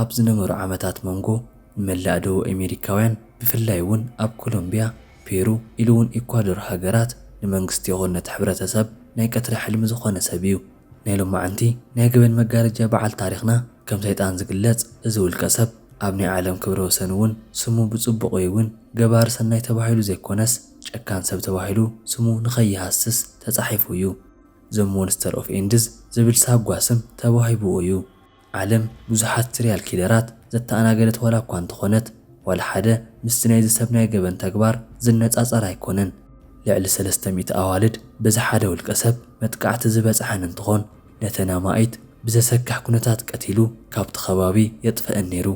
ኣብ ዝነበሩ ዓመታት መንጎ ንመላእ ደቡብ ኣሜሪካውያን ብፍላይ እውን ኣብ ኮሎምቢያ፣ ፔሩ ኢሉ እውን ኤኳዶር ሃገራት ንመንግስቲ ይኹን ነቲ ሕብረተሰብ ናይ ቀትሪ ሕልሚ ዝኾነ ሰብ እዩ። ናይ ሎማዕንቲ ናይ ገበን መጋረጃ በዓል ታሪኽና ከም ሰይጣን ዝግለጽ እዚ ውልቀ ሰብ ኣብ ናይ ዓለም ክብረ ወሰን እውን ስሙ ብጽቡቕ ወይ እውን ገባሪ ሰናይ ተባሂሉ ዘይኮነስ ጨካን ሰብ ተባሂሉ ስሙ ንኸይሃስስ ተጻሒፉ እዩ። ዘ ሞንስተር ኦፍ ኤንድዝ ዝብል ሳጓ ስም ተዋሂብዎ እዩ። ዓለም ብዙሓት ስሪያል ኪለራት ዘተኣናገደት ዋላ እኳ እንተኾነት፣ ዋላ ሓደ ምስቲ ናይዚ ሰብ ናይ ገበን ተግባር ዝነጻጸር ኣይኮነን። ልዕሊ ሰለስተ ሚእቲ ኣዋልድ በዚ ሓደ ውልቀሰብ መጥቃዕቲ ዝበጽሐን እንትኾን፣ ነተን ኣማኢት ብዘሰክሕ ኩነታት ቀቲሉ ካብቲ ከባቢ የጥፈእን ነይሩ።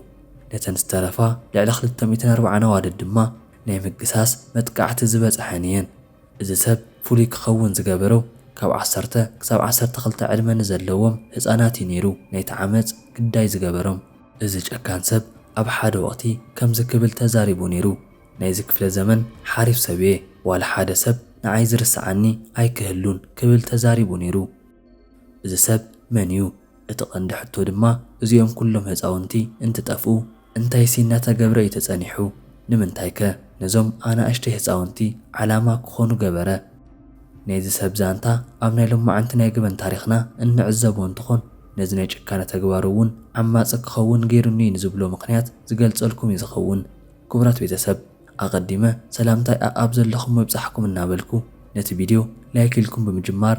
ነተን ዝተረፋ ልዕሊ ክልተ ሚእትን ኣርባዓን ኣዋልድ ድማ ናይ ምግሳስ መጥቃዕቲ ዝበጽሐን እየን። እዚ ሰብ ፍሉይ ክኸውን ዝገበሮ ካብ ዓሰርተ ክሳብ ዓሰርተ ክልተ ዕድመ ንዘለዎም ህጻናት እዩ ነይሩ ናይቲ ዓመጽ ግዳይ ዝገበሮም። እዚ ጨካን ሰብ ኣብ ሓደ ወቕቲ ከምዚ ክብል ተዛሪቡ ነይሩ፣ ናይዚ ክፍለ ዘመን ሓሪፍ ሰብ እየ፣ ዋላ ሓደ ሰብ ንዓይ ዝርስዓኒ ኣይክህሉን ክብል ተዛሪቡ ነይሩ። እዚ ሰብ መን እዩ? እቲ ቀንዲ ሕቶ ድማ እዚኦም ኩሎም ህጻውንቲ እንትጠፍኡ እንታይሲ እናተገብረ እዩ ተጸኒሑ? ንምንታይከ ነዞም ኣናእሽተይ ህጻውንቲ ዓላማ ክኾኑ ገበረ? ናይዚ ሰብ ዛንታ ኣብ ናይ ሎማዕንቲ ናይ ገበን ታሪኽና እንዕዘቦ እንትኾን ነዚ ናይ ጭካነ ተግባሩ እውን ዓማጺ ክኸውን ገይሩኒ ንዝብሎ ምኽንያት ዝገልጸልኩም እዩ ዝኸውን። ክቡራት ቤተሰብ ኣቐዲመ ሰላምታይ ኣኣብ ዘለኹሞ ይብጻሕኩም እናበልኩ ነቲ ቪድዮ ላይክ ኢልኩም ብምጅማር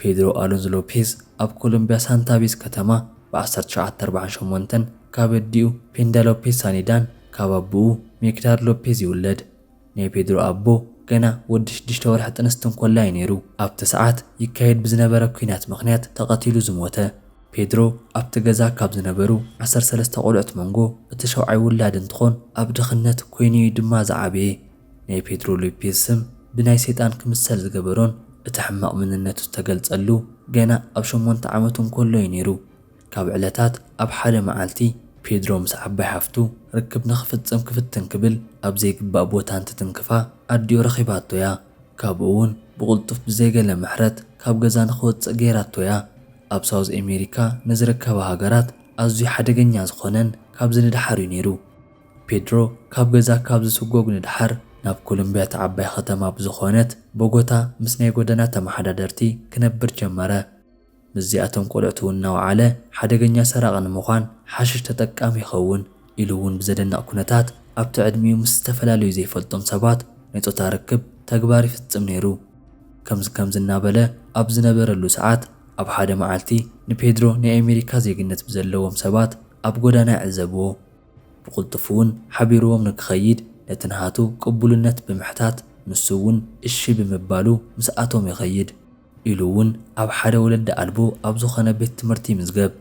ፔድሮ ኣሎንዞ ሎፔዝ ኣብ ኮሎምቢያ ሳንታ ቤዝ ከተማ ብ ዓሰርተ ትሽዓተ ኣርብዓን ሸሞንተን ካብ ኣዲኡ ፔንዳ ሎፔዝ ሳኒዳን ካብ ኣቡኡ ሜክዳድ ሎፔዝ ይውለድ። ናይ ፔድሮ ኣቦ ገና ወዲ ሽዱሽተ ወርሒ ጥንስቲ እንኮላ እዩ ነይሩ ኣብቲ ሰዓት ይካየድ ብዝነበረ ኲናት ምኽንያት ተቐቲሉ ዝሞተ። ፔድሮ ኣብቲ ገዛ ካብ ዝነበሩ ዓሰርተ ሰለስተ ቆልዑት መንጎ እቲ ሸውዓይ ውላድ እንትኾን ኣብ ድኽነት ኮይኑ እዩ ድማ ዝዓበየ። ናይ ፔድሮ ሎፔዝ ስም ብናይ ሰይጣን ክምሰል ዝገበሮን እቲ ሕማቕ መንነቱ ዝተገልጸሉ ገና ኣብ ሸሞንተ ዓመቱ እንከሎ'ዩ ነይሩ። ካብ ዕለታት ኣብ ሓደ መዓልቲ፣ ፔድሮ ምስ ዓባይ ሓፍቱ ርክብ ንኽፍጽም ክፍትን ክብል ኣብ ዘይግባእ ቦታ እንትትንክፋ ኣዲኡ ረኺባቶ'ያ። ካብኡ'ውን ብቕልጡፍ ብዘይ ገለ ምሕረት ካብ ገዛ ንኽወጽእ ገይራቶ'ያ። ኣብ ሳውዝ ኣሜሪካ ንዝርከባ ሃገራት ኣዝዩ ሓደገኛ ዝኾነን ካብዚ ንደሓር'ዩ ነይሩ። ፔድሮ ካብ ገዛ ካብ ዝስጎግ ንደሓር፣ ናብ ኮሎምብያ እታ ዓባይ ኸተማ ብዝኾነት ቦጎታ ምስ ናይ ጎደና ተመሓዳደርቲ ክነብር ጀመረ። ምስዚኣቶም ቆልዕቱውን እናወዓለ ሓደገኛ ሰራቒ ንምዃን ሓሽሽ ተጠቃሚ ይኸውን ኢሉውን ብዘደንቕ ኩነታት ኣብቲ ዕድሚኡ ምስ ዝተፈላለዩ ዘይፈልጦም ሰባት ናይ ጾታ ርክብ ተግባር ይፍጽም ነይሩ። ከምዚ ከምዚ እናበለ ኣብ ዝነበረሉ ሰዓት ኣብ ሓደ መዓልቲ ንፔድሮ ናይ ኣሜሪካ ዜግነት ብዘለዎም ሰባት ኣብ ጎዳና ይዕዘብዎ። ብቕልጡፍ እውን ሓቢሩዎም ንክኸይድ ነቲ ንሃቱ ቅቡልነት ብምሕታት ንሱ እውን እሺ ብምባሉ ምስኣቶም ይኸይድ። ኢሉ እውን ኣብ ሓደ ወለዲ ኣልቦ ኣብ ዝኾነ ቤት ትምህርቲ ይምዝገብ።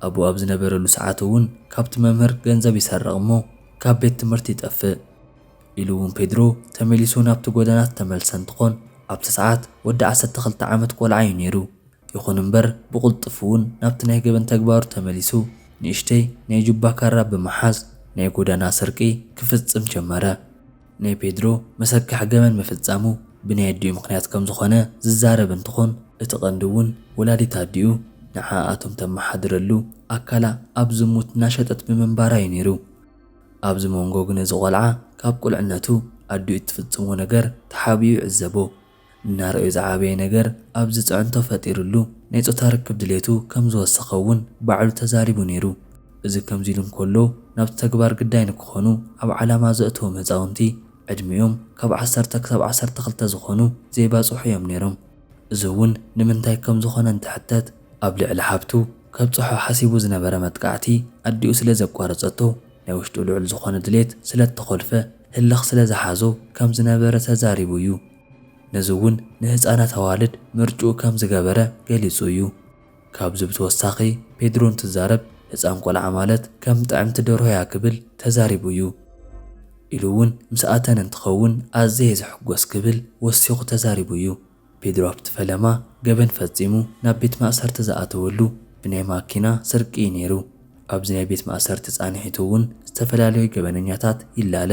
ኣብኡ ኣብ ዝነበረሉ ሰዓት እውን ካብቲ መምህር ገንዘብ ይሰርቕ እሞ ካብ ቤት ትምህርቲ ይጠፍእ። ኢሉ እውን ፔድሮ ተመሊሱ ናብቲ ጎደና ዝተመልሰ እንትኾን ኣብቲ ሰዓት ወዲ ዓሰርተ ክልተ ዓመት ቆልዓ እዩ ነይሩ። ይኹን እምበር ብቕልጡፍ እውን ናብቲ ናይ ገበን ተግባሩ ተመሊሱ ንእሽተይ ናይ ጁባ ካራ ብምሓዝ ናይ ጎዳና ስርቂ ክፍጽም ጀመረ። ናይ ፔድሮ መሰካሕ ገበን ምፍጻሙ ብናይ ኣዲኡ ምኽንያት ከም ዝኾነ ዝዛረብ እንትኾን እቲ ቀንዲ እውን ወላዲት ኣዲኡ ንዓኣ እቶም ተመሓድረሉ ኣካላ ኣብ ዝሙት እናሸጠት ብምንባራ እዩ ነይሩ። ኣብዚ ሞንጎ ግን እዚ ቆልዓ ካብ ቁልዕነቱ ኣዲኡ እትፍጽሞ ነገር ተሓቢኡ ይዕዘቦ። እናረኣዩ ዝዓበየ ነገር ኣብ ዝጽዕንቶ ፈጢርሉ ናይ ጾታ ርክብ ድሌቱ ከም ዝወሰኸ እውን ባዕሉ ተዛሪቡ ነይሩ። እዚ ከምዚ ኢሉ እንከሎ ናብቲ ተግባር ግዳይ ንክኾኑ ኣብ ዓላማ ዘእተዎም ህጻውንቲ ዕድሚኦም ካብ ዓሰርተ ክሳብ ዓሰርተ ክልተ ዝኾኑ ዘይባጽሑ እዮም ነይሮም። እዚ እውን ንምንታይ ከም ዝኾነ እንትሕተት ኣብ ልዕሊ ሓብቱ ከብጽሖ ሓሲቡ ዝነበረ መጥቃዕቲ ኣዲኡ ስለ ዘቋረጸቶ፣ ናይ ውሽጡ ልዑል ዝኾነ ድሌት ስለእተኾልፈ፣ ህልኽ ስለዝሓዞ ከም ዝነበረ ተዛሪቡ እዩ። ነዚ እውን ንህጻናት ኣዋልድ ምርጭኡ ከም ዝገበረ ገሊጹ እዩ። ካብዚ ብተወሳኺ ፔድሮ እንትዛረብ ህጻን ቆልዓ ማለት ከም ጥዕምቲ ደርሆ እያ ክብል ተዛሪቡ እዩ። ኢሉ እውን ምስ ኣተን እንትኸውን ኣዝየ እየ ዝሕጎስ ክብል ወሲኹ ተዛሪቡ እዩ። ፔድሮ ኣብቲ ፈለማ ገበን ፈጺሙ ናብ ቤት ማእሰርቲ ዝኣተወሉ ብናይ ማኪና ስርቂ እዩ ነይሩ። ኣብዚ ናይ ቤት ማእሰርቲ ጻንሒቱ እውን ዝተፈላለዩ ገበነኛታት ይላለ።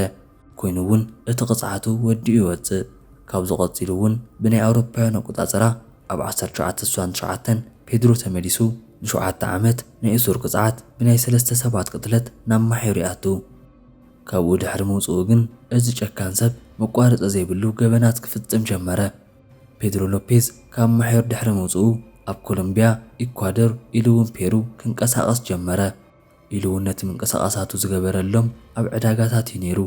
ኮይኑ እውን እቲ ቅጽዓቱ ወዲኡ ይወጽእ። ካብዚ ቀጺሉ እውን ብናይ ኣውሮፓውያን ኣቆጻጽራ ኣብ ዓሰርተ ትሽዓተ ስሳን ትሽዓተን ፔድሮ ተመሊሱ ንሸውዓተ ዓመት ናይ እሱር ቅጽዓት ብናይ ሰለስተ ሰባት ቅትለት ናብ ማሕዩር ይኣቱ። ካብኡ ድሕሪ ምውጽኡ ግን እዚ ጨካን ሰብ መቋረጺ ዘይብሉ ገበናት ክፍጽም ጀመረ። ፔድሮ ሎፔዝ ካብ ማሕዮር ድሕሪ ምውጽኡ ኣብ ኮሎምብያ፣ ኢኳዶር ኢሉ'ውን ፔሩ ክንቀሳቐስ ጀመረ። ኢሉ'ውን ነቲ ምንቅስቓሳቱ ዝገበረሎም ኣብ ዕዳጋታት እዩ ነይሩ።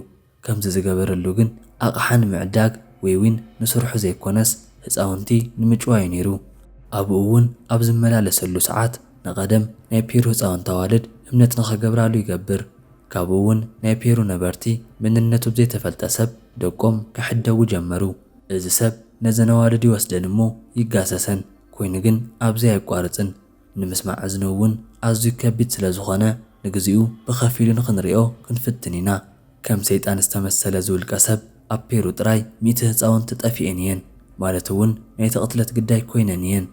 ከምዚ ዝገበረሉ ግን ኣቕሓ ንምዕዳግ ወይ'ውን ንስርሑ ዘይኮነስ ህጻውንቲ ንምጭዋይ እዩ ነይሩ። ኣብኡ'ውን ኣብ ዝመላለሰሉ ሰዓት ንቐደም ናይ ፔሩ ህጻውንቲ ኣዋልድ እምነት ንኸገብራሉ ይገብር። ካብኡ እውን ናይ ፔሩ ነበርቲ መንነቱ ብዘይተፈልጠ ሰብ ደቆም ክሕደጉ ጀመሩ። እዚ ሰብ ነዘን ኣዋልድ ይወስደን እሞ ይጋሰሰን፣ ኮይኑ ግን ኣብዚ ኣየቋርጽን። ንምስማዕ እዝኑ እውን ኣዝዩ ከቢድ ስለ ዝኾነ ንግዚኡ ብኸፊሉ ንኽንሪኦ ክንፍትን ኢና። ከም ሰይጣን ዝተመሰለ እዚ ውልቀ ሰብ ኣብ ፔሩ ጥራይ ሚእቲ ህጻውንቲ ጠፊኤን እየን፣ ማለት እውን ናይቲ ቅትለት ግዳይ ኮይነን እየን።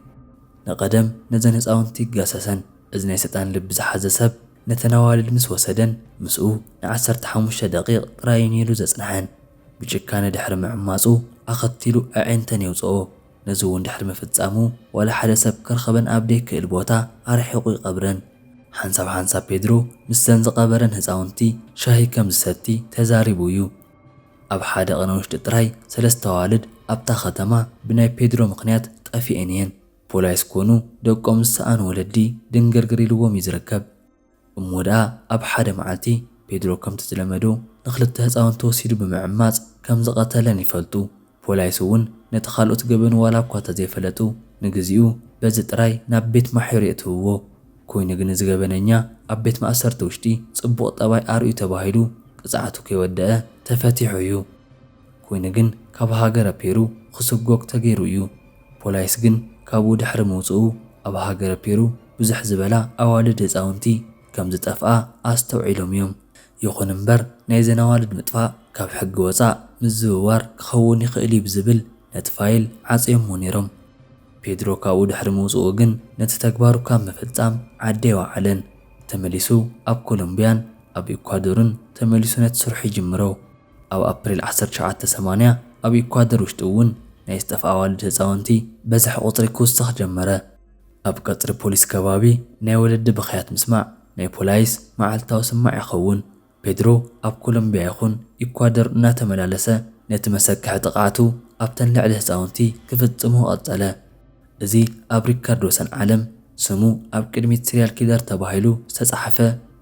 ንቐደም ነዘን ህጻውንቲ ይጋሰሰን። እዚ ናይ ሰጣን ልቢ ዝሓዘ ሰብ ነተን ኣዋልድ ምስ ወሰደን፣ ምስኡ ንዓሰርተ ሓሙሽተ ደቒቕ ጥራይ እዩ ነይሩ ዘጽንሐን። ብጭካነ ድሕሪ ምዕማጹ፣ ኣኸቲሉ ኣዒንተን የውጽኦ። ነዚ'ውን ድሕሪ ምፍጻሙ፣ ዋላ ሓደ ሰብ ክረኽበን ኣብ ደይክእል ቦታ ኣርሒቑ ይቐብረን። ሓንሳብ ሓንሳብ ፔድሮ ምስዘን ዝቐበረን ህጻውንቲ ሻሂ ከም ዝሰቲ ተዛሪቡ እዩ። ኣብ ሓደ ቕነ ውሽጢ ጥራይ ሰለስተ ኣዋልድ ኣብታ ከተማ ብናይ ፔድሮ ምኽንያት ጠፊኤን እየን። ፖላይስ ኮኑ ደቆም ዝሰኣኑ ወለዲ ድንግርግር ኢልዎም እዩ ዝርከብ። እሞ ደኣ ኣብ ሓደ መዓልቲ ፔድሮ ከምቲ ዝለመዶ ንኽልተ ህጻውንቲ ወሲዱ ብምዕማጽ ከም ዝቐተለን ይፈልጡ። ፖላይስ እውን ነቲ ካልኦት ገበኑ ዋላ እኳ እንተዘይፈለጡ ንግዚኡ በዚ ጥራይ ናብ ቤት ማሕዩር የእትውዎ። ኮይኑ ግን እዚ ገበነኛ ኣብ ቤት ማእሰርቲ ውሽጢ ጽቡቕ ጠባይ ኣርእዩ ተባሂሉ ቅጽዓቱ ከይወደኣ ተፈቲሑ እዩ። ኮይኑ ግን ካብ ሃገረ ፔሩ ክስጎግ ተገይሩ እዩ። ፖላይስ ግን ካብኡ ድሕሪ ምውጽኡ ኣብ ሃገረ ፔሩ ብዝሕ ዝበላ ኣዋልድ ህጻውንቲ ከም ዝጠፍኣ ኣስተውዒሎም እዮም። ይኹን እምበር ናይዘን ኣዋልድ ምጥፋእ ካብ ሕጊ ወጻእ ምዝውዋር ክኸውን ይኽእል እዩ ብዝብል ነቲ ፋይል ዓጽዮሞ ነይሮም። ፔድሮ ካብኡ ድሕሪ ምውጽኡ ግን ነቲ ተግባሩ ካብ ምፍጻም ዓዲ ኣይወዓለን። ተመሊሱ ኣብ ኮሎምብያን ኣብ ኢኳዶርን ተመሊሱ ነቲ ስርሑ ይጅምሮ። ኣብ ኣፕሪል ዓሰርተ ትሽዓተ ሰማንያ ኣብ ኢኳደር ውሽጢ እውን ናይ ዝጠፍኣ ኣዋልድ ህፃውንቲ በዝሒ ቁፅሪ ክውስኽ ጀመረ። ኣብ ቀፅሪ ፖሊስ ከባቢ ናይ ወለዲ ብኽያት ምስማዕ ናይ ፖላይስ መዓልታዊ ስማዕ ይኸውን። ፔድሮ ኣብ ኮሎምቢያ ይኹን ኢኳደር እናተመላለሰ ነቲ መሰክሒ ጥቕዓቱ ኣብተን ልዕሊ ህፃውንቲ ክፍፅሞ ቐፀለ። እዚ ኣብ ሪካርዶ ሰን ዓለም ስሙ ኣብ ቅድሚት ስሪያል ኪለር ተባሂሉ ዝተጻሕፈ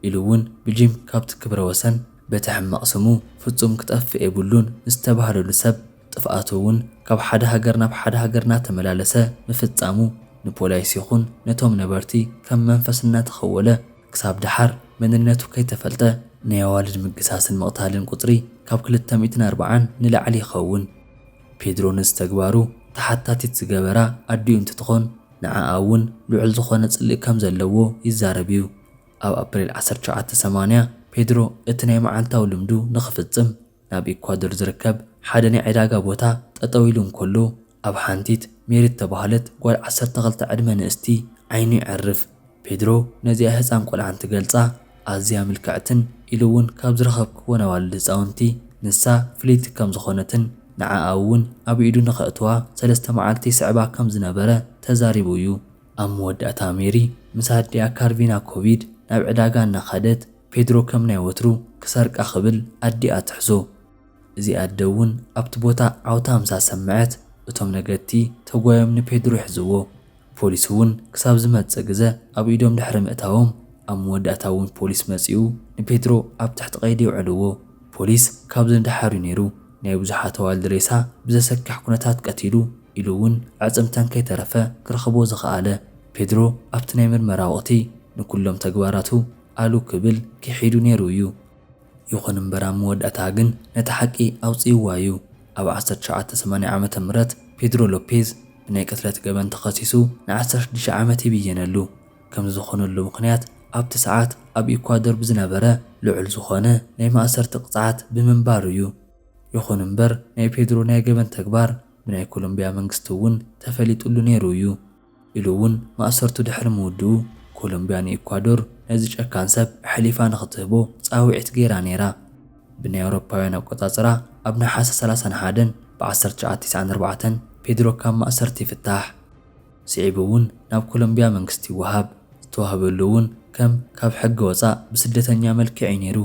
ኢሉ ውን ብጂም ካብቲ ክብረ ወሰን በቲ ሕማቕ ስሙ ፍጹም ክጠፍእ የብሉን ዝተባህለሉ ሰብ ጥፍኣቱ ውን ካብ ሓደ ሃገር ናብ ሓደ ሃገር ናተመላለሰ ምፍጻሙ ንፖላይስ ይኹን ነቶም ነበርቲ ከም መንፈስ እናተኸወለ ክሳብ ደሓር መንነቱ ከይተፈልጠ ናይ ኣዋልድ ምግሳስን ምቕታልን ቁጽሪ ካብ ክልተ ሚእትን ኣርብዓን ንላዕሊ ይኸውን። ፔድሮ ነዚ ተግባሩ ተሓታቲት ዝገበራ ኣዲኡ እንትትኾን፣ ንዓኣ እውን ልዑል ዝኾነ ጽልኢ ከም ዘለዎ ይዛረብ እዩ። ኣብ ኣፕሪል ዓሰርተ ሸውዓተ ሰማንያ፣ ፔድሮ እቲ ናይ መዓልታዊ ልምዱ ንኽፍጽም ናብ ኢኳዶር ዝርከብ ሓደ ናይ ዕዳጋ ቦታ ጠጠው ኢሉ እንከሎ፣ ኣብ ሓንቲት ሜሪ እተባህለት ጓል ዓሰርተ ክልተ ዕድመ ንእስቲ ዓይኑ የዕርፍ። ፔድሮ ነዚኣ ህጻን ቆልዓ እንትገልጻ ኣዝያ ምልክዕትን ኢሉ እውን ካብ ዝረኸብክወን ኣዋልድ ህጻውንቲ ንሳ ፍልይቲ ከም ዝኾነትን ንዓኣ እውን ኣብ ኢዱ ንኸእትዋ ሰለስተ መዓልቲ ይስዕባ ከም ዝነበረ ተዛሪቡ እዩ። ኣብ መወዳእታ ሜሪ ምስ ኣዲኣ ካርቪና ኮቪድ ናብ ዕዳጋ እናኻደት ፔድሮ ከም ናይ ወትሩ ክሰርቃ ክብል ኣዲኣ ትሕዞ። እዚ ኣደ እውን ኣብቲ ቦታ ዓውታ ምስ ኣሰመዐት እቶም ነገድቲ ተጓዮም ንፔድሮ ይሕዝዎ። ፖሊስ እውን ክሳብ ዝመጽእ ግዘ ኣብ ኢዶም ድሕሪ ምእታዎም ኣብ መወዳእታ እውን ፖሊስ መጺኡ ንፔድሮ ኣብ ትሕቲ ቀይዲ የውዕልዎ። ፖሊስ ካብዚ ንደሓር እዩ ነይሩ ናይ ብዙሓት ኣዋልድ ሬሳ ብዘሰክሕ ኩነታት ቀቲሉ ኢሉ እውን ኣዕጽምተን ከይተረፈ ክረኽቦ ዝኸኣለ። ፔድሮ ኣብቲ ናይ ምርመራ ወቕቲ ንኩሎም ተግባራቱ ኣሉ ክብል ክሒዱ ነይሩ እዩ። ይኹን እምበር ኣብ መወዳእታ ግን ነታ ሓቂ ኣውጺእዋ እዩ። ኣብ ዓሰርተ ትሽዓተ ሰማንያ ዓመተ ምህረት ፔድሮ ሎፔዝ ብናይ ቅትለት ገበን ተኸሲሱ ንዓሰርተ ሽዱሽተ ዓመት ይብየነሉ። ከምዚ ዝኾነሉ ምኽንያት ኣብቲ ሰዓት ኣብ ኢኳዶር ብዝነበረ ልዑል ዝኾነ ናይ ማእሰርቲ ቅጽዓት ብምንባሩ እዩ። ይኹን እምበር ናይ ፔድሮ ናይ ገበን ተግባር ብናይ ኮሎምቢያ መንግስቲ እውን ተፈሊጥሉ ነይሩ እዩ። ኢሉ እውን ማእሰርቱ ድሕሪ ምውድኡ፣ ኮሎምብያ ንኢኳዶር ነዚ ጨካን ሰብ ኣሕሊፋ ንኽትህቦ ጻውዒት ገይራ ነይራ። ብናይ ኣውሮፓውያን ኣቆጻጽራ ኣብ ነሓሰ ሰላሳን ሓደን ብ ዓሰርተ ትሽዓተ ቲስዓን ኣርባዕተን ፔድሮ ካብ ማእሰርቲ ይፍታሕ። ስዒቡ እውን ናብ ኮሎምብያ መንግስቲ ይወሃብ። ዝተዋህበሉ እውን ከም ካብ ሕጊ ወጻእ ብስደተኛ መልክዕ እዩ ነይሩ።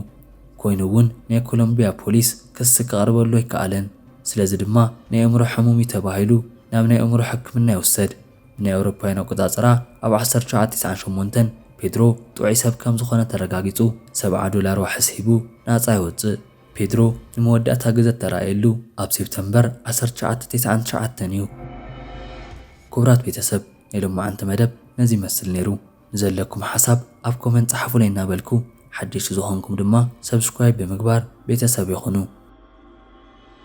ኮይኑ እውን ናይ ኮሎምብያ ፖሊስ ክሲ ከቕርበሉ ኣይከኣለን። ስለዚ ድማ ናይ ኣእምሮ ሕሙም እዩ ተባሂሉ። ናብ ናይ ኣእምሮ ሕክምና ይውሰድ። ብናይ ኣውሮፓውያን ኣቆጻጽራ ኣብ ዓሰርተ ትሽዓተ ቲስዓን ሸሞንተን ፔድሮ ጥዑይ ሰብ ከም ዝኾነ ተረጋጊጹ ሰብዓ ዶላር ዋሕስ ሂቡ ናጻ ይወጽእ። ፔድሮ ንመወዳእታ ግዘ እተራእየሉ ኣብ ሴፕተምበር ዓሰርተ ትሽዓተ ቴስዓን ትሽዓተን እዩ። ኩቡራት ቤተሰብ ናይ ሎማዓንቲ መደብ ነዚ ይመስል ነይሩ። ንዘለኩም ሓሳብ ኣብ ኮመንት ጸሓፉለይ እናበልኩ ሓደሽቲ ዝኾንኩም ድማ ሰብስክራይብ ብምግባር ቤተሰብ ይኹኑ።